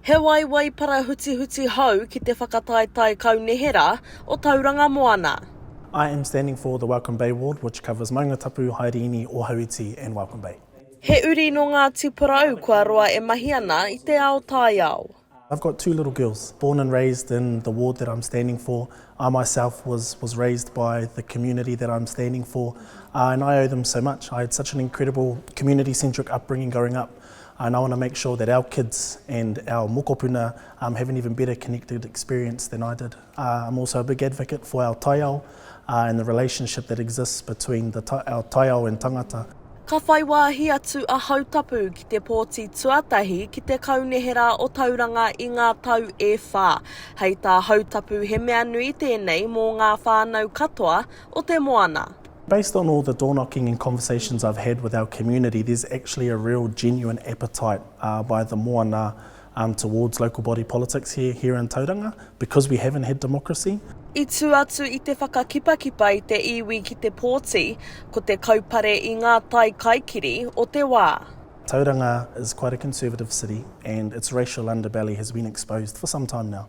He waewae parahutihuti hou ki te whakataetae kaunihera o Tauranga Moana. I am standing for the Welcome Bay ward which covers Maungatapu, Haereini, Ohaiti and Welcome Bay. He uri nō Ngāti Porou kua roa e mahi ana i te ao taiao. I've got two little girls, born and raised in the ward that I'm standing for. I myself was was raised by the community that I'm standing for and I owe them so much. I had such an incredible community centric upbringing going up. And I want to make sure that our kids and our mokopuna um have an even better connected experience than I did. Uh, I'm also a big advocate for our taiao uh, and the relationship that exists between the ta our taiao and tangata. Ka whai wāhi atu a Hautapu ki te pōti tuatahi ki te Kaunihera o Tauranga i ngā tau e whā. Hei tā Hautapu he mea nui tēnei mō ngā whānau katoa o te moana. Based on all the door knocking and conversations I've had with our community there's actually a real genuine appetite by the moana towards local body politics here here in Tauranga because we haven't had democracy. I tū atu i te whakakipakipa i te iwi ki te pōti, ko te kaupare i ngā tai kaikiri o te wā. Tauranga is quite a conservative city and its racial underbelly has been exposed for some time now.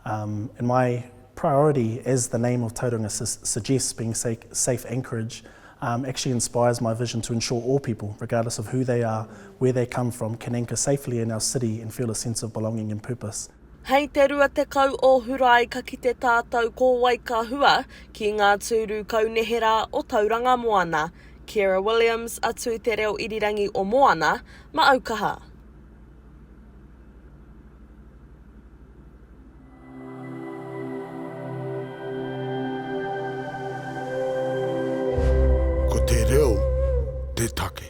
In my priority as the name of Tauranga suggests being safe anchorage um, actually inspires my vision to ensure all people, regardless of who they are, where they come from, can anchor safely in our city and feel a sense of belonging and purpose. Hei te 20 o Hurae ka kite tātou ko wai ka hua ki ngā tūru kauneherā o Tauranga Moana. Kiera Williams, atu i te reo irirangi o Moana, Maaukaha. Ko te reo te take.